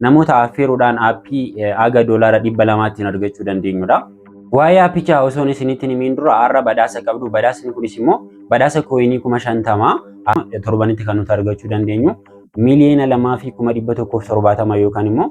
namoota affeeruudhaan aappii haga doolaara dhibba lamaattiin argachuu dandeenyudha. Waa'ee aappichaa osoon isinitti himiin dura har'a badhaasa qabdu. Badhaasni kunis immoo badhaasa kooyinii kuma shantama torbanitti kan nuti argachuu dandeenyu miiliyoona lamaa fi kuma dhibba tokkoof torbaatama yookaan immoo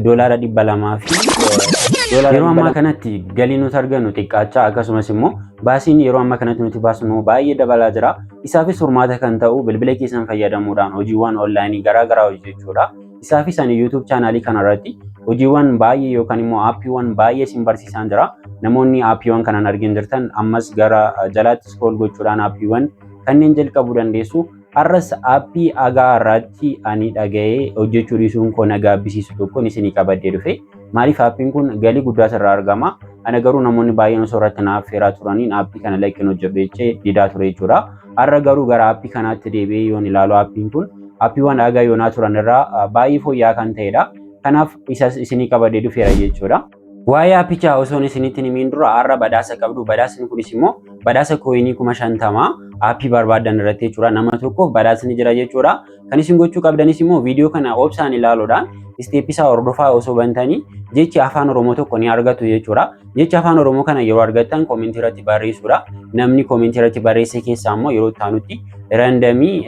doolaara dhibba lamaa fi yeroo ammaa kanatti galii nuti argannu xiqqaachaa akkasumas immoo baasiin yeroo ammaa kanatti nuti baasnu baay'ee dabalaa jira. Isaafis furmaata kan ta'u bilbila keessan fayyadamuudhaan hojiiwwan onlaayinii garaagaraa hojjechuudha. Isaafis ani YouTube chaanaalii kanarratti hojiiwwan baay'ee yookaan immoo aappiiwwan baay'ee isin barsiisaan jira. Namoonni aappiiwwan kanan argin jirtan ammas gara jalaatti scroll gochuudhaan aappiiwwan kanneen jalqabuu dandeessu. Har'as aappii agaa irratti ani dhaga'ee hojjechuu dhiisuun koo na gaabbisiisu tokkon isinii qabadhee dhufe. Maaliif aappiin kun galii guddaa irraa argama. Ana garuu namoonni baay'een osoo irratti naaf feeraa turaniin aappii kana lakkin hojjedhu jechee didaa ture jechuudha. Har'a garuu gara aappii kanaatti deebi'ee yoon ilaalu aappiin kun aappiiwwan haga yoonaa turan irraa baay'ee fooyya'aa kan ta'edha. Kanaaf isas isinii qabadee dhufeera jechuudha. Waa'ee aappichaa osoon isinitti hin himiin dura har'a badhaasa qabdu. Badhaasni kunis immoo badhaasa kooyinii kuma shantama aappii barbaaddan irratti jechuudha. Nama tokkoof badhaasni jira jechuudha. Kan isin gochuu qabdanis immoo viidiyoo kana obsaan ilaaluudhaan isteeppii isaa hordofaa osoo bantanii jechi afaan Oromoo tokko ni argattu jechuudha. Jecha afaan Oromoo kana yeroo argattan koomentii irratti barreessuudha. Namni koomentii irratti barreesse keessaa immoo yeroo itti aanutti randamii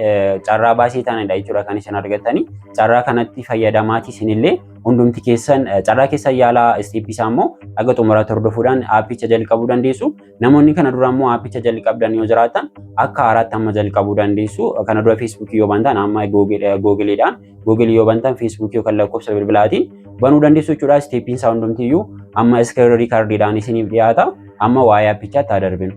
carraa baasii taanidha jechuudha kan isin argattanii. Carraa kanatti fayyadamaatii isinillee hundumti keessan carraa keessan yaalaa isteeppii isaa immoo haga xumuraatti hordofuudhaan aappicha jalqabuu dandeessu. Namoonni kana dura immoo aappicha jalqabdan yoo jiraatan akka haaraatti amma jalqabuu dandeessu. Kana dura feesbuukii yoo bantan amma googiliidhaan googilii yoo bantan feesbuukii yookaan lakkoofsa bilbilaatiin banuu dandeessu jechuudha. Isteeppiin isaa hundumtiyyuu amma iskiriin riikardiidhaan isiniif dhiyaata. Amma waa'ee aappichaatti haa darbinu.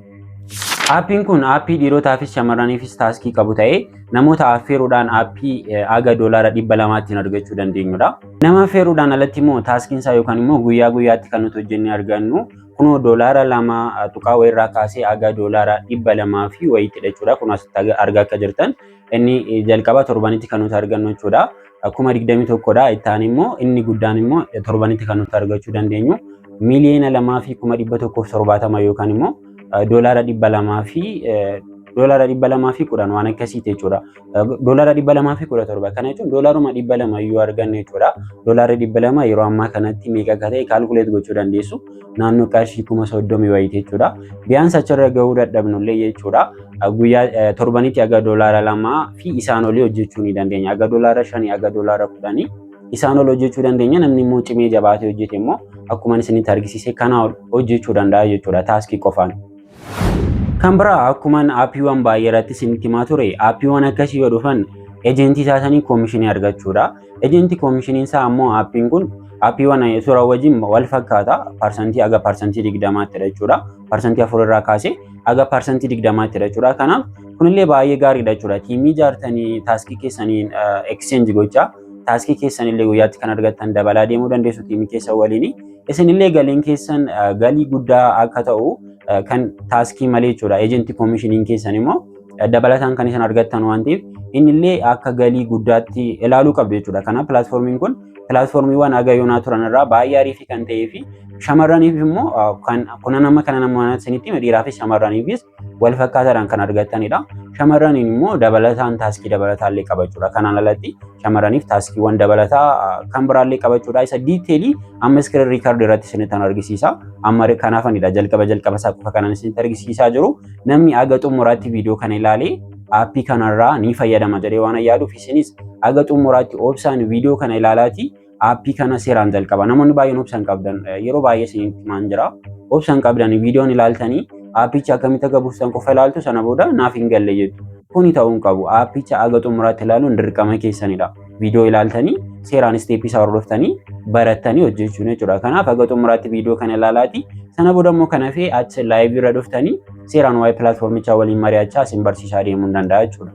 Aappiin kun aappii dhiirotaafis shamarraniifis taaskii qabu ta'ee namoota affeeruudhaan aappii haga doolaara dhibba lamaattiin argachuu dandeenyudha. Nama affeeruudhaan alatti immoo taaskiin isaa yookaan immoo guyyaa guyyaatti kan nuti hojjennee argannu Kunoo doolaara lama tuqaa wayirraa kaasee haga doolaara dhibba lamaa fi wayiitti jechuudha. Kun asitti argaa akka jirtan inni jalqaba torbanitti kan nuti argannu jechuudha. Kuma digdamii tokkodha. Itti aanee immoo inni guddaan immoo torbanitti kan nuti argachuu dandeenyu miiliyoona lamaa fi kuma dhibba tokkoof torbaatama yookaan immoo doolaara dhibba lamaa fi doolaara dhibba lamaa fi kudhan waan akkasiiti jechuudha. Doolaara dhibba lamaa fi kudha torba. Kana jechuun doolaaruma dhibba lama yoo arganne jechuudha. Doolaarri dhibba lama yeroo ammaa kanatti meeqa akka ta'e kaalkuleet gochuu dandeessu. Naannoo qarshii kuma soddomii wayiiti jechuudha. Biyyaansi achirra gahuu dadhabnullee jechuudha. Guyyaa torbanitti aga doolaara lamaa fi isaan olii hojjechuu ni dandeenya. Aga doolaara shanii aga doolaara kudhanii isaan ol hojjechuu dandeenya. Namni immoo cimee jabaatee hojjete immoo akkuma isinitti argisiise kanaa ol hojjechuu danda'a jechuudha taaskii qofaan. Kan biraa akkuman aappiiwwan baay'ee irratti isinitti himaa ture aappiiwwan akkasii yoo dhufan ejentii isaa sanii koomishinii argachuudha. Ejentii koomishiniin isaa ammoo aappiin kun aappiiwwan suuraa wajjin wal fakkaata parsantii haga parsantii digdamaatti jechuudha. Parsantii afur irraa kaasee haga parsantii digdamaatti jechuudha. Kanaaf kunillee baay'ee gaariidha jechuudha. Tiimii ijaartanii taaskii keessaniin exchange gochaa taaskii keessanillee guyyaatti kan argattan dabalaa deemuu dandeessu tiimii keessa waliini. Isinillee galiin keessan eh, galii guddaa akka ta'u eh, kan taaskii malee jechuudha. Eejentii koomishiniin keessan immoo eh, dabalataan kan isin argattan waan ta'eef innillee akka galii guddaatti ilaaluu qabdu jechuudha. Kanaaf pilaatfoormiin kun pilaatfoormiiwwan haga yoonaa turan irraa baay'ee ariifii kan ta'ee fi shamarraniif immoo eh, kan kunan amma kana nama isinitti hime dhiiraafis shamarraniifis wal fakkaataadhaan kan argatanidha. Shamarraniin immoo dabalataan taaskii dabalataallee qaba jechuudha. Kanaan alatti shamarraniif taaskiiwwan dabalataa kan biraallee qaba jechuudha. Isa diiteelii amma iskiriin riikardi irratti isinitti argisiisa. Amma kanaafanidha jalqaba jalqaba isaa qofa kanan isinitti argisiisaa jiru. Namni aga xumuraatti viidiyoo kana ilaalee aappii kanarraa ni fayyadama jedhee waan yaaduuf isinis aga xumuraatti obsaan viidiyoo kana ilaalaati. Aappii kana seeraan jalqaba. Namoonni baay'een obsa hin qabdan. Yeroo baay'ee isinitti himaan jira. Obsa hin qabdan viidiyoon ilaaltanii aappicha akkamitti akka buuftan qofa ilaaltu sana booda naaf hin galle jettu. Kuni ta'uu hin qabu. Aappicha haga xumuraatti ilaaluun dirqama keessanidha. Viidiyoo ilaaltanii seeraan isteeppii isaa hordoftanii barattanii hojjechuun jechuudha. Kanaaf haga xumuraatti viidiyoo kana ilaalaati. Sana booda immoo kan hafee achi laayivii irra dhuftanii seeraan waa'ee pilaatfoormichaa waliin mari'achaa isin barsiisaa deemuu ni danda'a jechuudha.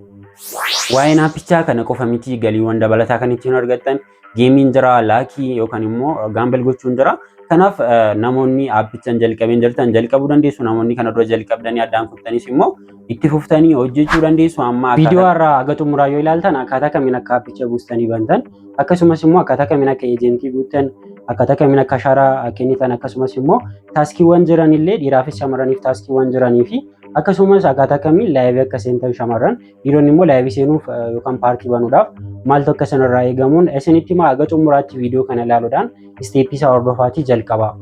Waa'een aappichaa kana qofa miti galiiwwan dabalataa kan ittiin argattan geemiin jira laakii yookaan immoo gaambel gochuun jira. Kanaaf namoonni aappichaan jalqabeen jirtan jalqabuu dandeessu namoonni kana dura jalqabdanii addaan kuftanis immoo itti fuftanii hojjechuu dandeessu amma viidiyoo irraa haga xumuraa yoo ilaaltan akkaataa kamiin akka aappicha buustanii bantan akkasumas immoo akkaataa kamiin akka eejentii guuttan akkaataa kamiin akka ashaaraa kennitan akkasumas immoo taaskiiwwan jiran illee dhiiraafis shamarraniif taaskiiwwan jiranii fi Akkasumas akkaataa kamiin laayivii akka seentan shamarran dhiironni immoo laayivii seenuuf yookaan paarkii banuudhaaf maaltu akka sanarraa eegamuun isinitti himaa haga xumuraatti viidiyoo kana ilaaluudhaan isteeppii isaa hordofaatii jalqabaa.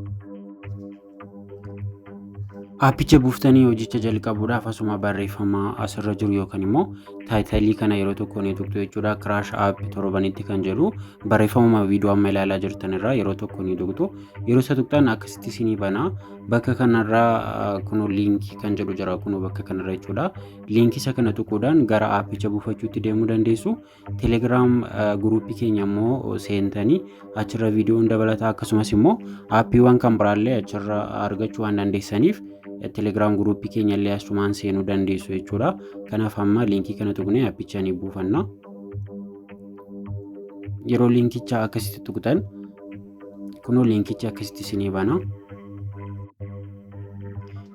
Aappicha buuftanii hojicha jalqabuudhaaf asuma barreeffama asirra jiru yookaan immoo taayitalii kana yeroo tokko ni tuqxu jechuudha. Kiraash app torbanitti kan jedhu barreeffamuma viidiyoo amma ilaalaa jirtan irraa yeroo tokko ni tuqxu. Yeroo isa tuqxan akkasitti isinii banaa. Bakka kanarraa kuno liinkii kan jedhu jira kuno bakka kanarra jechuudha. Liinkii isa kana tuquudhaan gara aappicha buufachuutti deemuu dandeessu. Telegiraam guruupii keenya immoo seentanii achirra viidiyoon dabalataa akkasumas immoo aappiiwwan kan biraallee achirra argachuu waan dandeessaniif telegiraam guruupii keenya illee asumaan seenuu dandeessu jechuudha. Kanaaf amma liinkii kana tuqnee aappicha ni buufanna. Yeroo liinkicha akkasitti tuqxan kunoo liinkichi akkasitti isinii bana.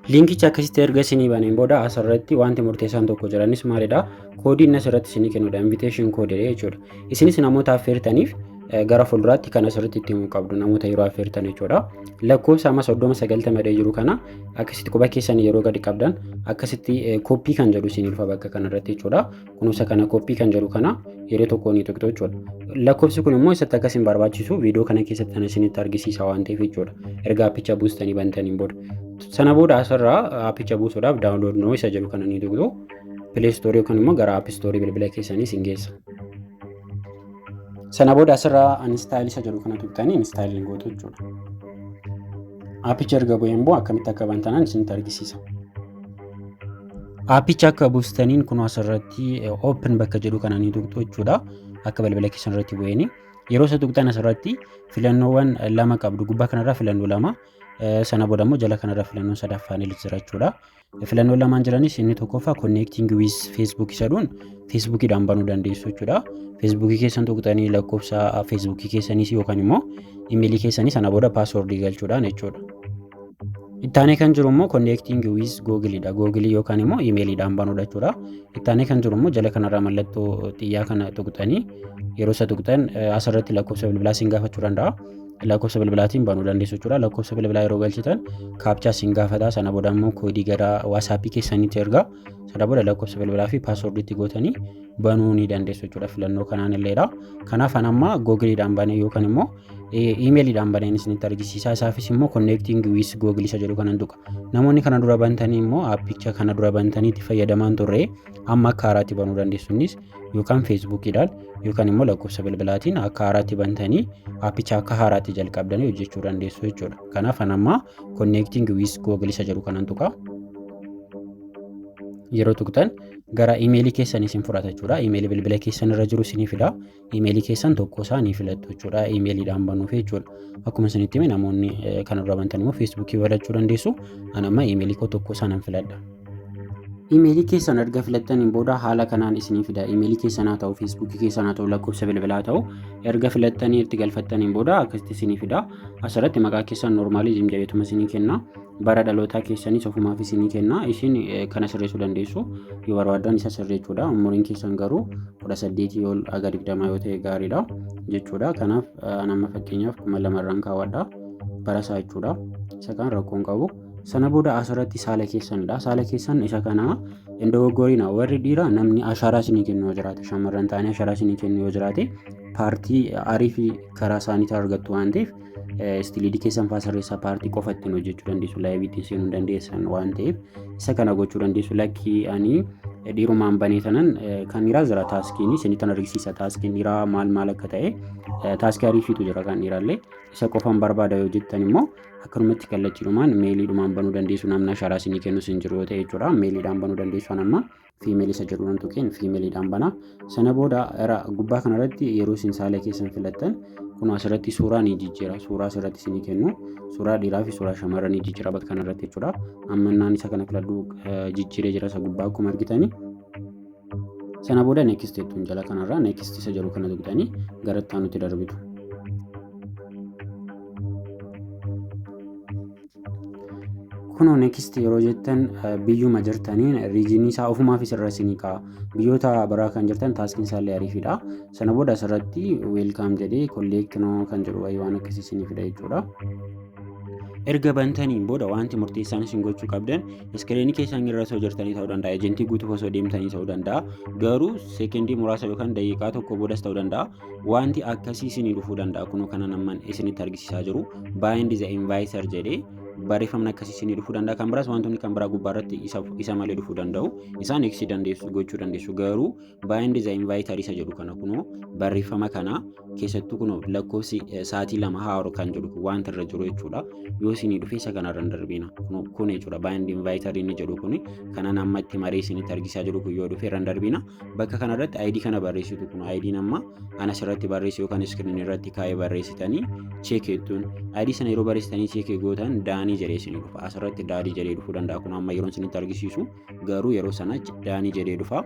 Liinkichi akkasitti erga isinii baneen booda asirratti wanti murteessaan tokko jiranis maalidha? Koodiin asirratti isinii kennudha. Invitation code jechuudha. Isinis namoota affeertaniif gara fuulduraatti kan asirratti itti himuu qabdu namoota yeroo affeertan jechuudha. Lakkoofsa amma soddoma sagaltama dhee jiru kana akkasitti quba keessan yeroo gadi qabdan akkasitti kooppii kan jedhu isin dhufa bakka kanarratti jechuudha. Kunuunsa kana koppii kan jedhu kana yeroo tokko ni tuqxu jechuudha. Lakkoofsi kun immoo isatti akkas hin barbaachisu viidiyoo kana keessatti kan isinitti argisiisa waan ta'eef jechuudha. Erga appicha buustanii bantaniin booda. Sana booda asirraa appicha buusuudhaaf daawunlood noo isa jedhu kana ni tuqxu. Pilee istoorii yookaan immoo gara app istoorii bilbila keessanii isin geessa. Sana booda asirraa anistaayil isa jedhu kana tuqxanii anistaayil hin gootu jechuudha. Appicha erga bu'ee immoo akkamitti akka bantanan isinitti argisiisa. Aappicha akka buustaniin kun asirratti open bakka jedhu kana ni tuqxu jechuudha. Akka balbala keessan irratti bu'eeni. Yeroo isa tuqxan asirratti filannoowwan lama qabdu. Gubbaa kanarraa filannoo lama. Sana booda immoo jala kanarra filannoo sadaffaan illee jira jechuudha. Filannoo lamaan jiranis inni tokkoffaa connecting with Facebook jedhuun Facebookiidhaan banuu dandeessu jechuudha. Facebookii keessan tuqxanii lakkoofsa Facebookii keessanis yookaan immoo imeelii keessanii sana booda paaswoordii galchuudhaan jechuudha. Ittaanee kan jiru immoo connecting with Google dha. Google yookaan immoo imeeliidhaan banuudha jechuudha. Ittaanee kan jiru immoo jala kanarraa mallattoo xiyyaa kana tuqxanii yeroo isa tuqxan asirratti lakkoofsa bilbilaa siin gaafachuu danda'a. Lakkoofsa bilbilaatiin banuu dandeessu jechuudha. Lakkoofsa bilbilaa yeroo galchitan kaapchaa siin gaafata. Sana booda immoo koodii gara waasaappii keessanitti erga. Sana booda lakkoofsa bilbilaa fi paaswoordiitti gootanii banuu ni dandeessu jechuudha. Filannoo kanaan illeedha. Kanaaf an amma googiliidhaan banee yookaan immoo imeeliidhaan baneen isinitti argisiisaa isaafis immoo konneektiingi wiis googil isa jedhu kanan tuqa namoonni kana dura bantanii immoo aappicha kana dura bantaniitti fayyadamaan turre amma akka haaraatti banuu dandeessuunis yookaan feesbuukiidhaan yookaan immoo lakkoofsa bilbilaatiin akka haaraatti bantanii aappicha akka haaraatti jalqabdanii hojjechuu dandeessu jechuudha kanaaf an amma konneektiingi wiis googil isa jedhu kanan tuqa yeroo tuqxan gara imeelii keessan isin fudhata jechuudha imeelii bilbila keessan irra jiru isinii fida Imeelii keessan tokko isaa ni filattu jechuudha. Imeeliidhaan banuuf jechuudha. Akkuma isinitti hime namoonni kanarra bantan immoo feesbuukii filachuu dandeessu. Ani amma imeelii koo tokko isaa nan filadha. Imeelii keessan erga filattaniin booda haala kanaan isinii fida. Imeelii keessan haa ta'u, feesbuukii keessan haa ta'u, lakkoofsa bilbilaa haa ta'u erga filattanii itti galfattaniin booda akkasitti isinii fida. Asirratti maqaa keessan noormaaliizim jedheetuma isinii kenna. bara dhalootaa keessanis ofumaaf isinii kenna isin kana sirreessuu dandeessu yoo barbaaddan isa sirreechuudha umuriin keessan garuu kudha saddeetii ol haga digdamaa yoo ta'e gaariidha jechuudha kanaaf nama fakkeenyaaf kuma lamarraan kaawwadha barasaa jechuudha isa kan rakkoon qabu sana booda asirratti saala keessanidha saala keessan isa kana hin dogoggorina warri dhiiraa namni ashaaraa isinii kennu yoo jiraate shamarran ta'anii ashaaraa isinii kennu yoo jiraate paartii arii fi karaa isaaniitti argattu waan ta'eef Istiliidii keessan faa sirreessaa paartii qofa ittiin hojjechuu dandeessu laayivii ittiin seenuu dandeessan waan ta'eef isa kana gochuu dandeessu lakkii ani dhiirumaan banee tanan kan dhiiraa jira taaskiin isinii tan argisiisa taaskiin dhiiraa maal maal akka ta'e taaskii ariifiitu jira kan dhiiraallee isa qofaan barbaada yoo jettan immoo akkanumatti kallachiidhumaan meeliidhumaan banuu dandeessu namni ashaaraa isinii kennus hin jiru yoo ta'e jechuudha meeliidhaan banuu dandeessu amma female isa jedhu waan tuqeen female dhaan bana. Sana booda era gubbaa kana irratti yeroo isin saala keessan filattan kun asirratti suuraa ni jijjiira. Suuraa asirratti isinii kennu. Suuraa dhiiraa fi suuraa shamarra ni jijjiira bakka kana irratti jechuudha. Amma naan isa kana filadhu jijjiiree jira isa gubbaa akkuma argitani. Sana booda next jettuun jala kanarraa next isa jedhu kana tuqxanii gara itti aanutti darbitu. kunoo next yeroo jettan biyyuma jirtaniin riijinii isaa ofumaaf isirra isinii ka'a biyyoota biraa kan jirtan taaskiin isaallee ariifidha sana booda asirratti weelkaam jedhee kolleekt noo kan jedhu wayii waan akkasii isinii fida jechuudha. erga bantaniin booda wanti murteessaan isin gochuu qabdan iskiriinii keessan irra osoo jirtanii ta'uu danda'a ejentii guutuuf osoo deemtanii ta'uu danda'a garuu seekendii muraasa yookaan daqiiqaa tokko boodas ta'uu danda'a Wanti akkasii isinii dhufuu danda'a. Kunoo kanan amma isinitti argisiisaa jiru bind the inviter jedhee barreeffamni akkasii isinii dhufuu danda'a. Kan biraas wantoonni kan biraa gubbaa irratti isa, isa malee dhufuu danda'u. Isaan eegsii dandeessu gochuu dandeessu. Garuu bind the inviter isa jedhu kana kunoo barreeffama kana keessattuu kunoo lakkoofsi eh, sa'aatii lama haaru kan jedhu kun wanti irra jiru jechuudha. Yoo isinii dhufe isa kanarra hin darbiina. Kunoo kun jechuudha bind inviter inni jedhu kun kanan amma itti maree isinitti argisiisaa jiru kun yoo dhufe irra hin darbiina. Bakka kanarratti ID kana barreessitu kun ID amma ana asirratti barreessu yookaan iskiriin irratti kaa'ee barreessitanii cheekeettuun ID sana yeroo barreessitanii cheekee gootan daanii jedhee isin dhufa asirratti daadii jedhee dhufuu danda'a kun amma yeroon isinitti argisiisu garuu yeroo sana daanii jedhee dhufa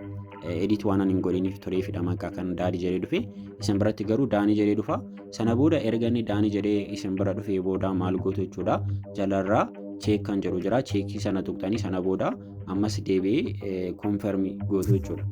edit waan ani hin godhiniif turee fi dhamaqaa kan daadii jedhee dhufe isin biratti garuu daanii jedhee dhufa sana booda erga inni daanii jedhee isin bira dhufee booda maal gootu jechuudha jalarraa cheek kan jedhu jira cheekii sana tuqxanii sana booda ammas deebi'ee konfirmi gootu jechuudha.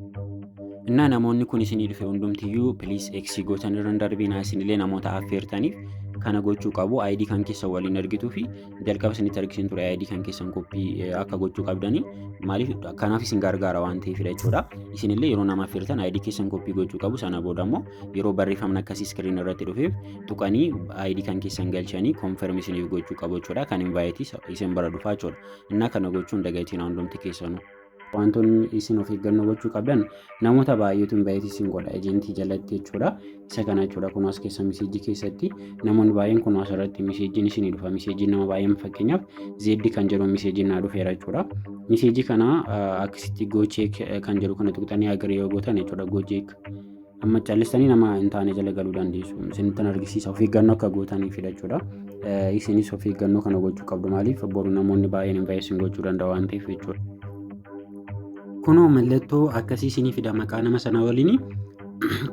Innaa namoonni kun isinii dhufe hundumtiyyuu piliis eksii gootan irra hin darbinaa isinillee namoota affeertaniif kana gochuu qabu ID kan keessan waliin argituu fi jalqaba isinitti argisiin ture ID kan keessan koppii akka gochuu qabdanii maaliif kanaaf isin gargaara waan ta'eefidha jechuudha. Isinillee yeroo nama affeertan ID keessan koppii gochuu qabu sana booda immoo yeroo barreeffamni akkasii iskiriin irratti dhufeef tuqanii ID kan keessan galchanii konfirmi isiniif gochuu qabu jechuudha. Kan hin baay'eetis isin bara dhufaa jechuudha. Innaa kana gochuun dagatiin hundumti keessanu. Wantoonni isin of eeggannoo gochuu qabdan namoota baay'eetu invite isin godha ejentii jalatti jechuudha. Isa kana jechuudha kun as keessa miseejii keessatti namoonni baay'een kun as irratti miseejiin isinii dhufa. Miseejiin nama baay'een fakkeenyaaf zeeddi kan jedhu miseejiin naa dhufeera jechuudha. Miseejii kana akkasitti goocheek kan jedhu kana tuqxanii agaree yoo gootan jechuudha goocheek Amma callistanii nama hin taane jala galuu dandeessu. Isinittan argisiisa of eeggannoo akka gootaniif jechuudha. Isinis of eeggannoo kana gochuu qabdu maaliif boru namoonni baay'een invaayisin gochuu danda'u waan ta'eef jechuudha. Kunoo mallattoo akkasii isinii fida maqaa nama sana waliin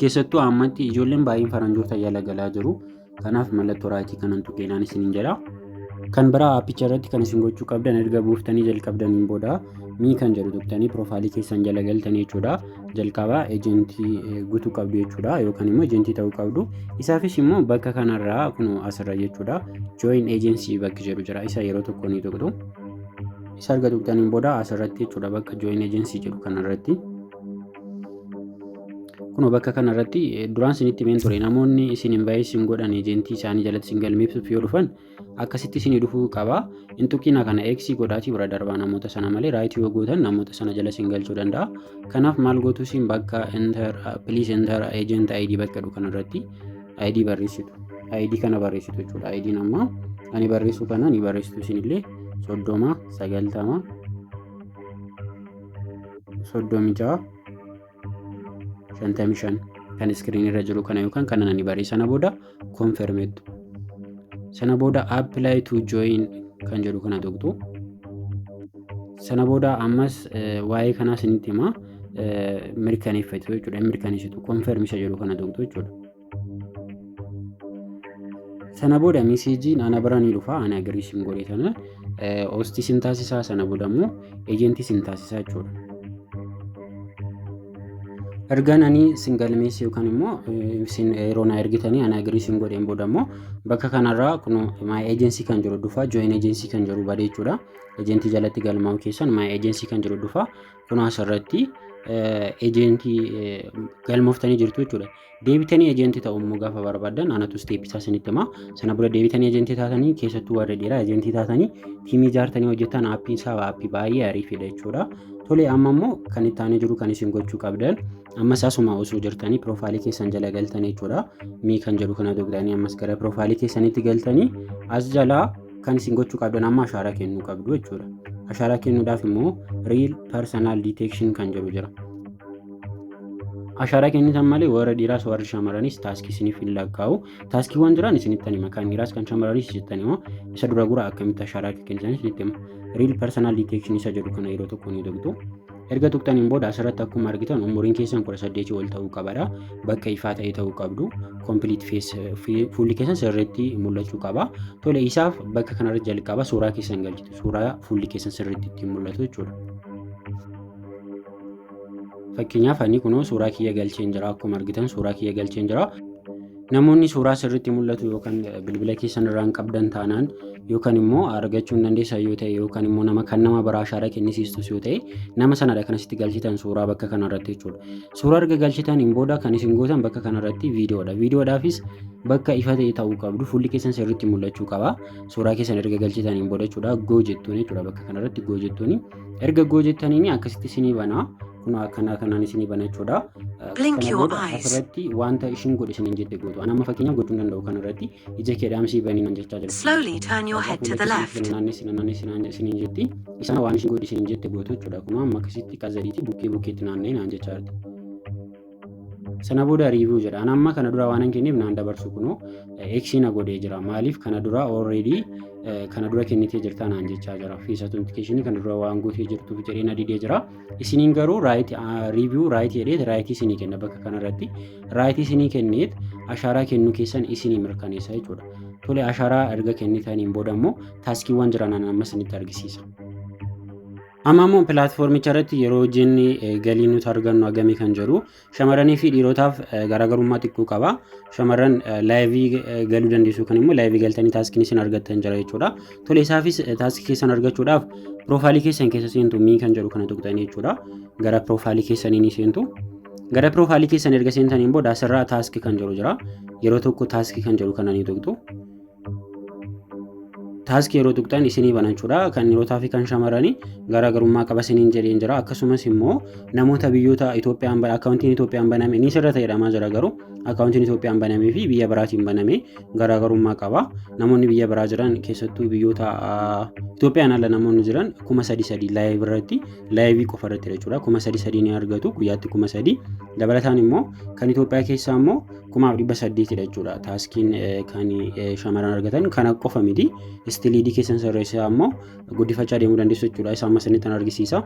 keessattuu ammatti ijoolleen baay'een faranjoota jala galaa jiru. Kanaaf mallattoo raayitii kanan tuqeenaan isiniin jedha. Kan biraa appicha irratti kan isin gochuu qabdan erga buuftanii jalqabdaniin booda mii kan jedhu tuqtanii piroofaayilii keessan jala galtanii jechuudha. Jalqaba ejentii guutuu qabdu jechuudha yookaan immoo ejentii ta'uu qabdu. Isaafis immoo bakka kanarraa kun asirra jechuudha. Join agency bakki jedhu jira. Isa yeroo tokko ni tuqtu. Isa erga tuqtaniin booda asirratti jechuudha bakka join agency jedhu kanarratti. Kunoo bakka kana irratti duraan isinitti himeen ture namoonni isin invayit isin godhan ejentii isaanii jalatti isin galmeessuuf yoo dhufan akkasitti isinii dhufuu qaba. Hin tuqina kana X godhaatii bira darbaa namoota sana malee raayitii yoo gootan namoota sana jala isin galchuu danda'a. Kanaaf maal gootu isin bakka enter please enter agent ID bakka jedhu kana irratti ID barreessitu. ID kana barreessitu jechuudha. ID amma ani barreessuu kana ni barreessitu isinillee soddoma sagaltama soddomii ja'a shantamii shan kan iskiriinii irra jiru kana yookaan kana nani baree sana booda konfermeettu sana booda apply to join kan jedhu kana tuqxu sana booda ammas waa'ee kanaas inni himaa mirkaneeffatu jechuudha mirkaneessitu konfermisa jedhu kana tuqxu jechuudha. Sana booda meseejiin ana bira ni dhufa ani agrii isin godhe sana hoostii isin taasisaa sana booda immoo eejentii isin taasisaa jechuudha. Ergaan ani isin galmeesse yookaan immoo isin yeroo na ergitanii ana agrii isin godheen booda immoo bakka kanarraa kun maay eejensii kan jiru dhufa jooyin eejensii kan jiru bade jechuudha. Eejentii jalatti galmaa'u keessan maay eejensii kan jiru dhufa kun asirratti eejentii galmooftanii jirtu jechuudha. Deebitanii ejentii ta'uu immoo gaafa barbaadan anatu isteeppii isaa isinitti hima. Sana booda deebitanii ejentii taatanii keessattuu warri dhiiraa ejentii taatanii tiimii ijaartanii hojjetan aappiin isaa aappii baay'ee ariifiidha jechuudha. Tole amma immoo kan itti aanee jiru kan isin gochuu qabdan ammas asuma osoo jirtanii piroofaayilii keessan jala galtanii jechuudha. Mii kan jedhu kana dogdanii ammas gara piroofaayilii keessanitti galtanii as jalaa kan isin gochuu qabdan amma ashaaraa kennuu qabdu jechuudha. Ashaaraa kennuudhaaf immoo real personal detection kan jedhu jira. Ashaaraa kennitan malee warra dhiiraas warri shamarranis taaskii isiniif hin lakkaa'u. Taaskiiwwan jiran isinitti hima. Kan dhiiraas kan shamarranis isinitti hima. Isa dura gura akkamitti ashaaraa akka kennitan isinitti hima. Real personal detection isa jedhu kana yeroo tokko ni dogdu. Erga tuqxaniin booda asirratti akkuma argitan umuriin keessan 18 ol ta'uu qabadha. Bakka ifaa ta'e ta'uu qabdu. Complete face fi- fuulli keessan sirriitti mul'achuu qaba. Tole isaaf bakka kanarra jalqaba suuraa keessan galchitu. Suuraa fuulli keessan sirriitti ittiin mul'atu jechuudha. Fakkeenyaaf ani kunoo suuraa kiyya galcheen jira akkuma argitan suuraa kiyya galcheen jira. Namoonni suuraa sirriitti mul'atu yookaan bilbila keessan irraa hin qabdan taanaan yookaan immoo argachuu hin dandeessan yoo ta'e yookaan immoo nama kan nama biraa ashaara kennisiistus yoo ta'e nama sanadha kan asitti galchitan suuraa bakka kanarratti jechuudha. Suuraa erga galchitaniin booda kan isin gootan bakka kanarratti viidiyoodha. Viidiyoodhaafis bakka ifa ta'e ta'uu qabdu fuulli keessan sirriitti mul'achuu qaba. Suuraa keessan erga galchitaniin booda jechuudha goo jettuun jechuudha bakka kanarratti goo jettuun erga goo jettaniin akkasitti isinii banaa. kun akkanaa kanaan isinii bana jechuudha. Blink Kana your booda eyes. asirratti wanta ishiin godhe isiniin jette gootu. Ani amma fakkeenya gochuu hin danda'u kanarratti ija kee dhaamsii banii nan jechaa jirti. Slowly turn your head to the left. Naannessi naannessi naannessi isiniin jetti. Isaan waan ishiin godhe isiniin jette gootu jechuudha. Akkuma amma akkasitti qazariitii bukkee bukkeetti naanna'ee naan jechaa jirti. sana booda review jedha an amma kana dura waanan kenneef naan dabarsu kunoo x na godhee jira maaliif kana dura already kana dura kennitee jirtaa naan jechaa jira fees authentication kana dura waan gootee jirtuuf jedhee na didee jira isiniin garuu right review right jedheet right isinii kenna bakka kanarratti right isinii kenneet ashaaraa kennuu keessan isinii mirkaneessa jechuudha tole ashaaraa erga kennitaniin booda immoo taaskiiwwan jiran amma isinitti argisiisa. Amma immoo pilaatfoormicha irratti yeroo hojjenni galii nuti argannu hagamii kan jedhu shamarranii fi dhiirotaaf garaagarummaa xiqqoo qaba. Shamarran laayivii galuu dandeessu yookaan immoo laayivii galtanii taaskii isin argattan jira jechuudha. Tole isaafis taaskii keessan argachuudhaaf piroofaalii keessan keessa seentu mii kan jedhu kana tuqxanii jechuudha. Gara piroofaalii keessanii ni seentu. Gara piroofaalii keessan erga seentaniin booda asirraa taaskii kan jedhu jira. Yeroo tokko taaskii kan jedhu kana ni tuqxu. taaskii yeroo tuqxan isinii bana jechuudha. Kan dhiirotaa fi kan shamarranii garaagarummaa qaba isiniin jedheen jira. Akkasumas immoo namoota biyyoota Itoophiyaan ba- akkaawuntiin Itoophiyaan baname ni sirra ta'edhamaa jira garuu akkaawuntiin Itoophiyaan banamee fi biyya biraatiin baname garaagarummaa qaba. Namoonni biyya biraa jiran keessattuu biyyoota ah, Itoophiyaan ala namoonni jiran kuma sadi sadi laayivii irratti laayivii qofa irratti jechuudha. Kuma sadi sadi ni argatu guyyaatti kuma sadi. Dabalataan immoo kan Itoophiyaa keessaa immoo kumaaf dhibba saddeetidha jechuudha taaskiin kan shamarran argatan kana qofa miti istiliidii keessan sirreessaa ammoo guddifachaa deemuu dandeessu jechuudha isa amma isinitti kan argisiisa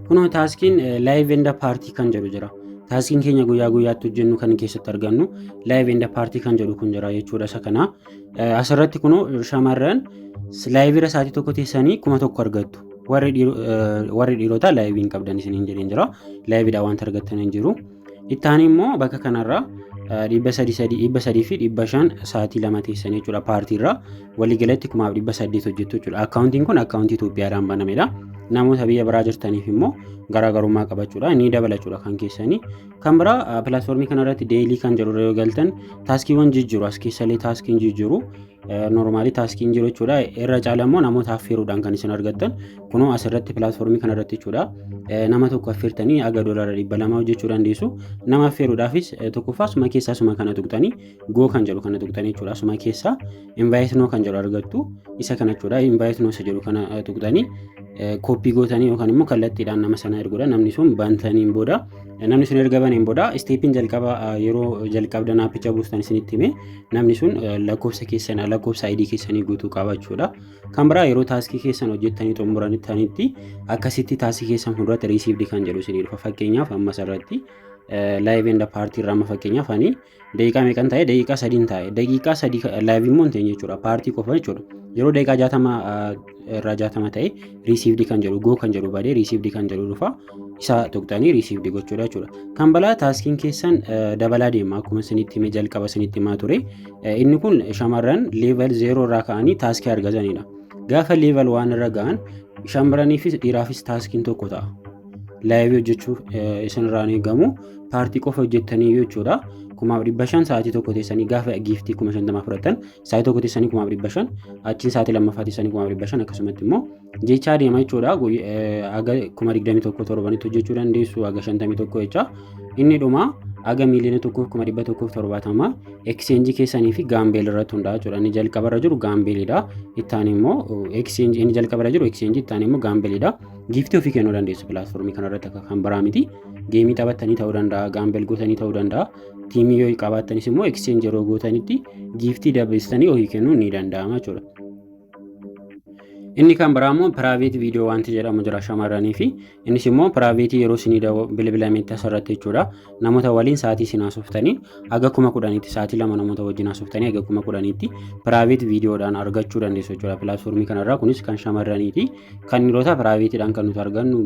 kunoo taaskiin laayiv enda paartii kan jedhu jira taaskiin keenya guyyaa guyyaatti hojjennu kan keessatti argannu laayiv enda paartii kan jedhu kun jira jechuudha isa kana asirratti kunoo shamarran laayivira sa'aatii tokko teessanii kuma tokko argattu warri dhiirotaa laayiviin qabdan isiniin jedheen jira laayividha wanta argattan hin jiru Itti aanee immoo bakka kanarraa dhibba sadii sadii dhibba sadii fi dhibba shan sa'aatii lama teessan jechuudha paartiirraa waliigalatti kumaaf dhibba saddeet hojjettu jechuudha. Akkaawuntiin kun akkaawuntii Itoophiyaadhaan banamedha. Namoota biyya biraa jirtaniif immoo garaagarummaa qabachuudha ni dabala jechuudha kan keessanii. Kan biraa pilaatfoormii kanarratti deelii kan jedhurra yoo galtan taaskiiwwan jijjiiru as keessallee taaskiin jijjiiru. Normaalii taaskiin jiru jechuudha. Irra caala immoo namoota affeeruudhaan kan isin argattan. Kunoo asirratti pilaatfoormii kanarratti jechuudha. Nama tokko affeertanii aga doolaara dhibba lamaa hojjechuu dandeessu. Nama affeeruudhaafis tokkoffaa suma keessaa suma kana tuqxanii goo kan jedhu kana tuqxanii jechuudha. Suma keessaa invaayitnoo kan jedhu argattu. Isa kana jechuudha. Invaayitnoo isa jedhu kana tuqxanii kooppii gootanii yookaan immoo kallattiidhaan nama sana erguudha. Namni sun bantaniin booda namni sun erga baneen booda isteepiin jalqaba yeroo jalqabdan aappicha buustan isinitti hime namni sun lakkoofsa keessan lakkoofsa ID keessanii guutuu qaba jechuudha. Kan biraa yeroo taaskii keessan hojjettanii xumuranitti akkasitti taaskii keessan fuulduratti riisiivdi kan jedhu isinii dhufa. Fakkeenyaaf ammas irratti laayiv enda paartii irraa amma fakkeenyaaf ani daqiiqaa meeqan taa'e daqiiqaa sadiin taa'e daqiiqaa sadii laayiv immoo hin ta'e jechuudha paartii qofa jechuudha. Yeroo daqiiqaa jaatama irraa jaatama ta'e riisiivdi kan jedhu goo kan jedhu badee riisiivdi kan jedhu dhufa. isa tuqxanii riisiivdi gochuudha jechuudha. Kan balaa taaskiin keessan dabalaa deema akkuma isinitti himee jalqaba isinitti himaa ture. Inni kun shamarran leeval zeeroo irraa ka'anii taaskii argatanidha. Gaafa leeval waan irra ga'an shamarraniifis dhiiraafis taaskiin tokko ta'a. Laayivii hojjechuu isinirraa hin eegamu. Paartii qofa hojjettanii jechuudha. Kumaaf dhibba shan sa'aatii tokko teessanii gaafa giiftii kuma shantamaa fudhatan sa'aatii tokko teessanii kumaaf dhibba shan achiin sa'aatii lammaffaa teessanii kumaaf dhibba shan akkasumatti immoo jechaa deema jechuudha. Haga kuma 21 torbanitti hojjechuu dandeessu haga 51 jecha. Inni dhuma haga miiliyoona tokkoof kuma 170 ekseenjii keessanii fi gaambeel irratti hundaa'a jechuudha. Inni jalqaba irra jiru gaambeelidha. Ittaan immoo ekseenjii inni jalqaba irra jiru ekseenjii ittaan immoo gaambeelidha. Giiftii ofii kennuu dandeessu pilaatfoormii kanarratti akka kan biraa miti. Geemii taphattanii ta'uu danda'a, gaambeel gootanii ta'uu danda'a. Tiimii yoo qabaattanis immoo ekseenjii yeroo gootanitti giiftii dabalistanii ofii kennuun ni danda'ama jechuudha. Inni kan biraa immoo piraayiveet viidiyoo wanti jedhamu jira shamarranii fi innis immoo piraayiveetii yeroo isinii bilbilametti asirratti jechuudha. Namoota waliin sa'aatii isin haasoftanii haga kuma kudhaniitti sa'aatii lama namoota wajjin haasoftanii haga kuma kudhaniitti piraayiveet viidiyoodhaan argachuu dandeessu jechuudha pilaatfoormii kanarraa kunis kan shamarraniiti. Kan dhiirotaa piraayiveetiidhaan kan nuti argannu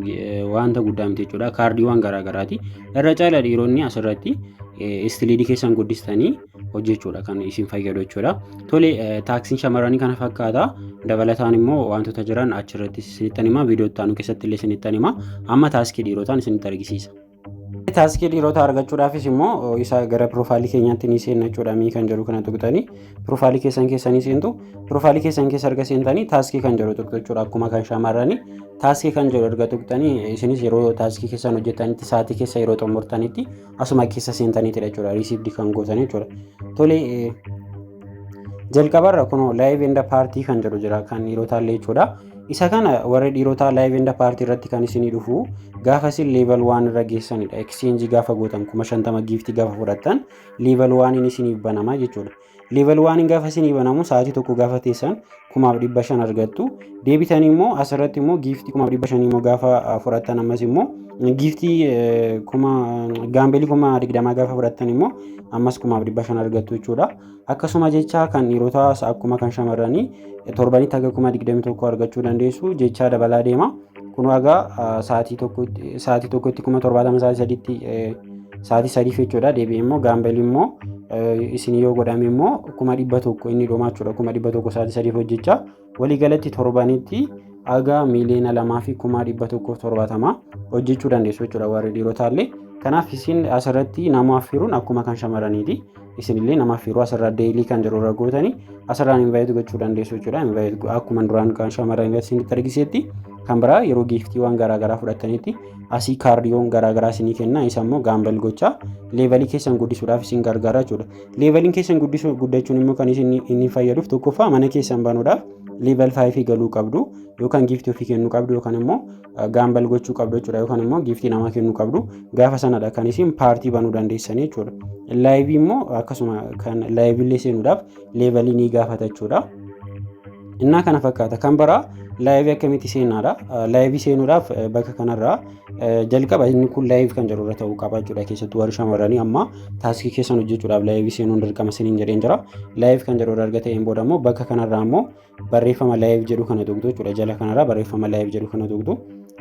wanta guddaa miti jechuudha kaardiiwwan garaagaraati. Irra caala dhiironni asirratti istiliidii keessan guddistanii hojjechuudha kan isin fayyadu jechuudha. Tole taaksiin shamarranii kana fakkaata. Dabalataan immoo wantoota jiran achirratti isinittan hima. Viidiyoo itti aanu keessatti illee isinittan hima. Amma taaskii dhiirotaan isinitti argisiisa. Taaskii dhiirotaa argachuudhaafis immoo isa gara piroofaayilii keenyaatti ni seenna jechuudha. Mii kan jedhu kana tuqxanii piroofaayilii keessan keessa ni seentu. Piroofaayilii keessan keessa erga seentanii taaskii kan jedhu tuqxu jechuudha. Akkuma kan shamarranii taaskii kan jedhu erga tuqxanii isinis yeroo taaskii keessan hojjetanitti sa'aatii keessa yeroo xumurtanitti asuma keessa seentaniitidha jechuudha riisiivdi kan gootan jechuudha tole jalqabarra kun laayiv enda paartii kan jedhu jira kan dhiirotaallee jechuudha isa kana warri dhiirotaa laayiv enda paartii irratti kan isinii dhufu gaafa isin leeval waan irra geessanidha ekicheenjii gaafa gootan kuma shantama giiftii gaafa fudhattan leeval waaniin isiniif banama jechuudha Level 1 gaafa isinii banamu sa'aatii tokko gaafa teessan kumaaf dhibba shan argattu. Deebitanii immoo asirratti immoo giiftii kumaaf dhibba shanii immoo gaafa fudhattan ammas immoo giiftii kuma gaambeelii kuma digdamaa gaafa fudhattan immoo ammas kumaaf dhibba shan argattu jechuudha. Akkasuma jecha kan dhiirotaas akkuma kan shamarranii torbanitti haga kuma digdami tokko argachuu dandeessu jechaa dabalaa deema. Kun egaa sa'aatii tokkotti sa'aatii tokkotti kuma torbaatama sa'aatii sadiitti sa'aatii sadiif jechuudha deebi'ee immoo gaambelii immoo isin yoo godhame immoo kuma dhibba tokko inni dhumaa jechuudha kuma dhibba tokko sa'aatii sadiif hojjechaa waliigalatti torbanitti haga miiliyoona lamaa fi kuma dhibba tokko torbaatama hojjechuu dandeessu jechuudha warri dhiirotaallee kanaaf isin asirratti nama affiruun akkuma kan shamaraniiti. isinillee namaaf yeroo asirraa deelii kan jiru irra gootanii asirraan invaayitii gochuu dandeessu jechuudha. Invaayitii akkuma duraan kan shamarran invaayitii isinitti argisetti kan biraa yeroo giiftiiwwan garaagaraa fudhatanitti asii kaardiyoon garaagaraa isinii kenna isa immoo gaambal gochaa leevalii keessan guddisuudhaaf isin gargaara jechuudha. Leevaliin keessan guddisuu guddachuun immoo kan isin inni fayyaduuf tokkoffaa mana keessan banuudhaaf leeval 5 galuu qabdu yookaan giiftii ofii kennuu qabdu yookaan immoo gaambal gochuu qabdu jechuudha yookaan immoo giiftii namaa kennuu qabdu gaafa sanadha kan isin paartii banuu dandeessanii jechuudha. Laayivii immoo akkasuma kan laayivillee seenuudhaaf leevalii ni gaafata jechuudha. Innaa kana fakkaata kan biraa laayivii akkamitti seenaadha. Laayivii seenuudhaaf bakka kanarraa jalqaba inni kun laayiv kan jedhu irra ta'uu qaba jechuudha keessattuu warri shamarranii amma taaskii keessan hojjechuudhaaf laayivii seenuun dirqama isiniin jedheen jira. Laayiv kan jedhu irra erga ta'een booda immoo bakka kanarraa immoo barreeffama live jedhu kana tuqxu jechuudha jala kanarra barreeffama live jedhu kana tuqxu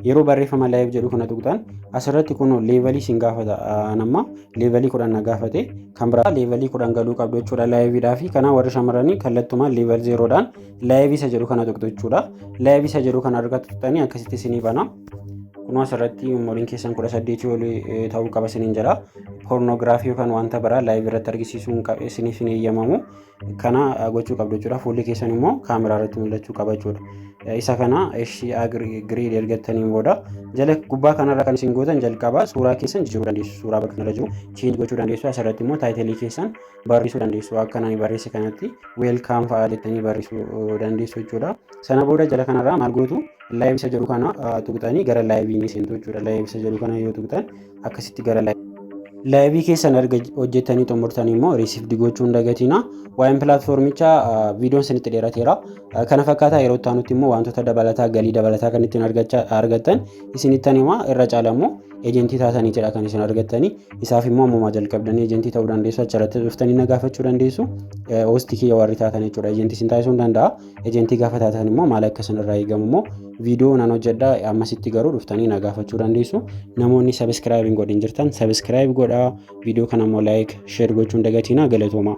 yeroo barreeffama live jedhu kana tuqxan asirratti kun leevalii sin gaafata anamma leevalii kudhan na gaafate kan biraa leevalii kudhan galuu qabdu jechuudha laayiviidhaa fi kanaa warri shamarranii kallattumaan leeval zeeroodhaan laayivii isa jedhu kana tuqxu jechuudha laayivii isa jedhu kana argatu tuqxanii akkasitti sinii bana kunoo asirratti umuriin keessan kudha saddeetii olii ta'uu qaba siniin jedha poornoogiraafii yookaan wanta biraa laayivii irratti argisiisuu isiniif hin eeyyamamu kana gochuu qabdu jechuudha. Fuulli keessan immoo kaameraa irratti mul'achuu qaba jechuudha. Isa kana eshi agreed ergattaniin booda jala gubbaa kanarra kan isin gootan jalqaba suuraa keessan jijjiiruu dandeessu. Suuraa bakka kanarra jiru change gochuu dandeessu. Asirratti immoo taayitilii keessan barreessuu dandeessu. Akka nani barreesse kanatti welcome fa'aa jettanii barreessuu dandeessu jechuudha. Sana booda jala kanarraa maal gootu live isa jedhu kana tuqxanii gara live ni seentu jechuudha. Live isa jedhu kana yoo tuqxan akkasitti gara laayivii keessan erga hojjettanii xumurtanii immoo riisifdi gochuu hin dagatiina. Waa'een pilaatfoormichaa viidiyoon isinitti dheerateera. Kana fakkaataa yeroo itti aanutti immoo wantoota dabalataa galii dabalataa kan ittiin argattan isinittan hima irra caala immoo ejentii taataniitidha kan isin argattanii isaaf immoo ammumaa jalqabdanii ejentii ta'uu dandeessu achirratti dhuftanii na gaafachuu dandeessu hoostii kiyya warri taatan jechuudha ejentii isin taasisuu danda'a. Ejentii gaafa taatan immoo maal akka isin irraa eegamu immoo viidiyoo nan hojjedha ammasitti garuu dhuftanii na gaafachuu dandeessu. Namoonni sabiskiraayib hin godhin jirtan sabiskiraayib godhaa viidiyoo kana immoo laayik sheer gochuun dagatiinaa galatoomaa.